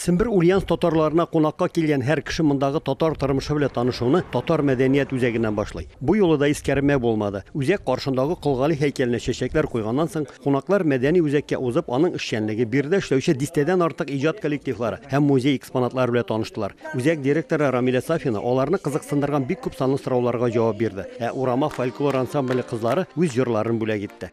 Сембер Ульяновск татарларына кунакка килгән һәр кеше мондагы татар тормышы белән танышуны татар мәдәният үзәгеннән башлый. Бу юлы да искәрмәү булмады. Үзәк каршындагы Кол Гали һәйкәленә чәчәкләр куйганнан соң, кунаклар мәдәни үзәккә узып, аның эшчәнлеге, биредә эшләүче дистәдән артык иҗат коллективлары һәм музей экспонатлары белән таныштылар. Үзәк директоры Рамилә Сафина аларны кызыксындырган бик күп санлы сорауларга җавап бирде, ә Урама фольклор ансамбле кызлары үз җырларын бүләк итте.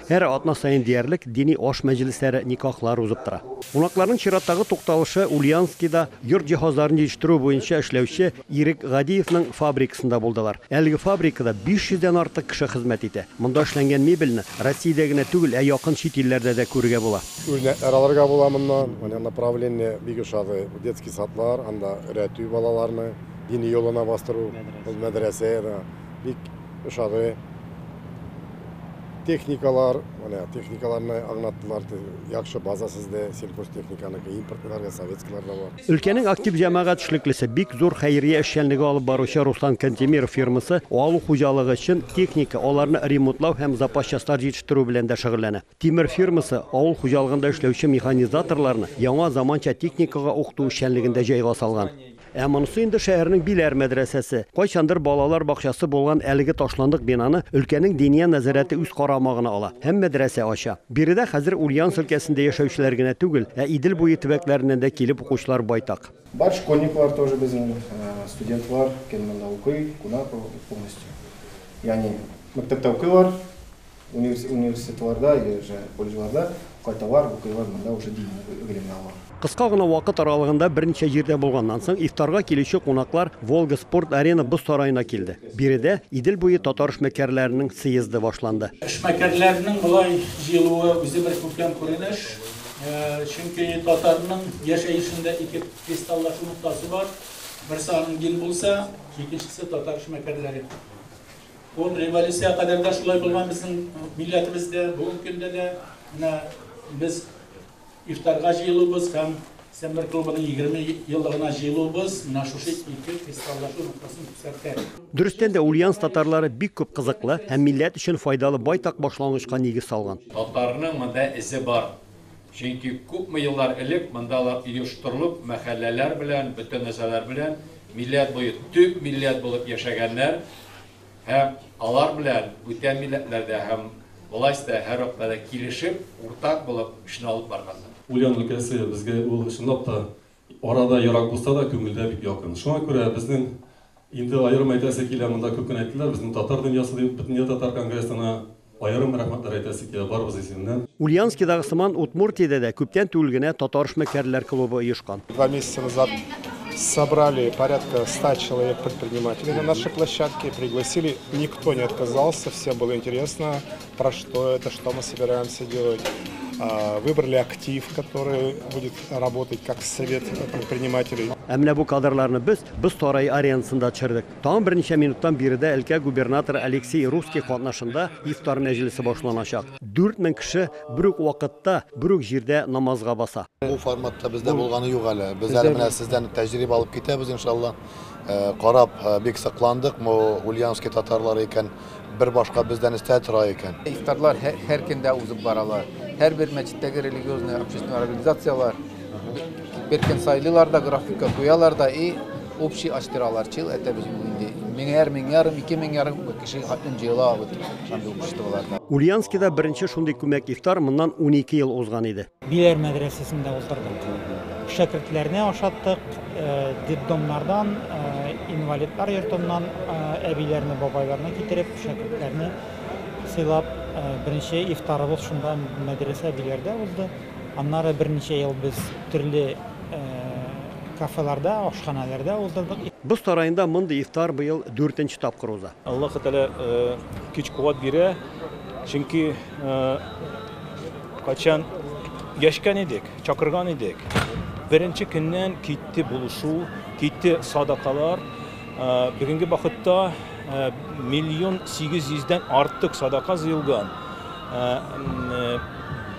Һәр атна саен диярлек дини аш мәҗлесләре, никахлар узып тора. Кунакларның чираттагы тукталышы Ульяновскида йорт җиһазларын җитештерү буенча эшләүче Ирек Гадиевның фабрикасында булдылар. Әлеге фабрикада 500 дән артык кеше хезмәт итә. Монда эшләнгән мебельне Россиядә генә түгел, ә якын чит илләрдә дә күрергә була. Үрнәкләр алырга була моннан. Менә направление бик ошады. Детский садлар, анда өйрәтү балаларны, дини юлына бастыру, ул мәдрәсә да бик ошады. Техникалар, менә техникаларны аңлаттылар. Яхшы база сездә, сельхозтехниканыкы, импортлар да, советскийлар да бар. Өлкәнең актив җәмәгать эшлеклесе, бик зур хәйрия эшчәнлеге алып баручы Руслан Кантемиров фирмасы авыл хуҗалыгы өчен техника, аларны ремонтлау һәм запас частьлар җитештерү белән дә шөгыльләнә. Тимер фирмасы авыл хуҗалыгында эшләүче механизаторларны яңа заманча техникага укыту эшчәнлеген дә җайга салган. Ә монысы инде шәһәрнең Биләр мәдрәсәсе. Кайчандыр балалар бакчасы булган әлеге ташландык бинаны өлкәнең Диния нәзарәте үз карамагына ала һәм мәдрәсә ача. Биредә хәзер Ульяновск өлкәсендә яшәүчеләр генә түгел, ә Идел буе төбәкләреннән дә килеп укучылар байтак. Бар школьниклар тоже безнең, студентлар гел монда укый, кунак полностью. Ягъни мәктәптә укыйлар. Университетларда или же колледжларда кайталар, укыйлар, монда уже дини гыйлемне алалар. Кыска гына вакыт аралыгында берничә җирдә булганнан соң, ифтарга килүче кунаклар Волга спорт-арена боз сараена килде. Биредә Идел буе татар эшмәкәрләренең сыездэ башланды. Эшмәкәрләрнең болай җыелуы үзе бер күркәм күренеш, чөнки татарның яшәешендә ике кристаллашу ноктасы бар, берсе аның дин булса, икенчесе татар эшмәкәрләре. Ул революция кадәр дә шулай булган безнең милләтебездә, бүгенге көндә дә менә без ифтарга җыелуыбыз һәм Сәмбер клубының 20 еллыгына җыелуыбыз менә шушы ике фестивальдәге ноктасын күрсәтә. Дөрестән дә, Ульяновск татарлары бик күп кызыклы һәм милләт өчен файдалы байтак башлангычка нигез салган. Татарның монда эзе бар. Чөнки күпме еллар элек монда да оештырылып, мәхәлләләр белән, бөтен нәрсәләр белән милләт буе төп милләт булып яшәгәннәр һәм алар белән бүтән милләтләр дә һәм власть та һәр вакытта да килешеп, уртак булып эшне алып барганнар. Ульян өлкәсе безгә ул чынлап та Ара да ерак булса да, күңелдә бик якын. Шуңа күрә безнең инде аерым әйтәсе килә, монда күп кенә әйттеләр, безнең татар дөньясы дип Бөтендөнья татар конгрессына аерым рәхмәтләр әйтәсе килә, барыбыз исеменнән. Ульяновскидагы сыман Удмуртиядә дә күптән түгел генә Татар эшмәкәрләр клубы оешкан. Два месяца назад собрали порядка 100 человек предпринимателей на нашей площадке, пригласили, никто не отказался, всем было интересно. Про что это, что мы собираемся делать. Выбрали актив, который будет работать как совет предпринимателей. Ә менә бу кадрларны без Боз сарае аренасында төшердек. Тагын берничә минуттан биредә өлкә губернаторы Алексей Русский катнашында ифтар мәҗлесе башланачак. 4000 кеше бер үк вакытта, бер үк җирдә намазга баса. Бу форматта бездә булганы юк әле. Без әле менә сездән тәҗрибә алып китәбез, иншалла. карап бик сокландык, бу ульяновский татарлар икән, бер башка бездән өстә тора икән. Ифтарлар һәр көндә узып баралар. Һәрбер мәчеттәге религиозный общественный организацияләр бер көн сайлыйлар да, графикка куялар да и общий ачтыралар. Чил әтә без инде меңәр, меңәрем, ике меңәрем кеше хатын җыела вот шундый обществоларда. Ульяновскида беренче шундый күмәк ифтар моннан унике ел узган иде. Биләр мәдрәсәсендә уздырдык. Шәкертләрне ашаттык, детдомнардан, инвалидлар йортыннан әбиләрне, бабайларны китереп, шәкертләрне сыйлап, беренче ифтарыбыз шунда мәдрәсә Биләрдә узды. Аннары берничә ел без төрле кафеларда, ашханәләрдә уздырдык. Боз сараенда мондый ифтар быел дүртенче тапкыр уза. Аллаһы Тәгалә көч-куәт бирә, чөнки Качан яшкән идек, чакырган идек. Беренче көннән китте булышу, китте садакалар. Бүгенге вакытта миллион 800 дән артык садака җыелган.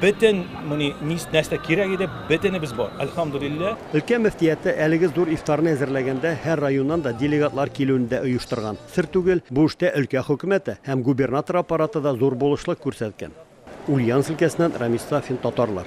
Бөтен моны нәрсә кирәк иде, бөтенебез бар. Альхамдулиллаһ. Өлкә мөфтияте әлеге зур ифтарны әзерләгәндә һәр районнан да делегатлар килүен дә оештырган. Сер түгел, бу эштә өлкә хөкүмәте һәм губернатор аппараты да зур булышлык күрсәткән. Ульяновск өлкәсеннән Рамис Сафин, татарлар.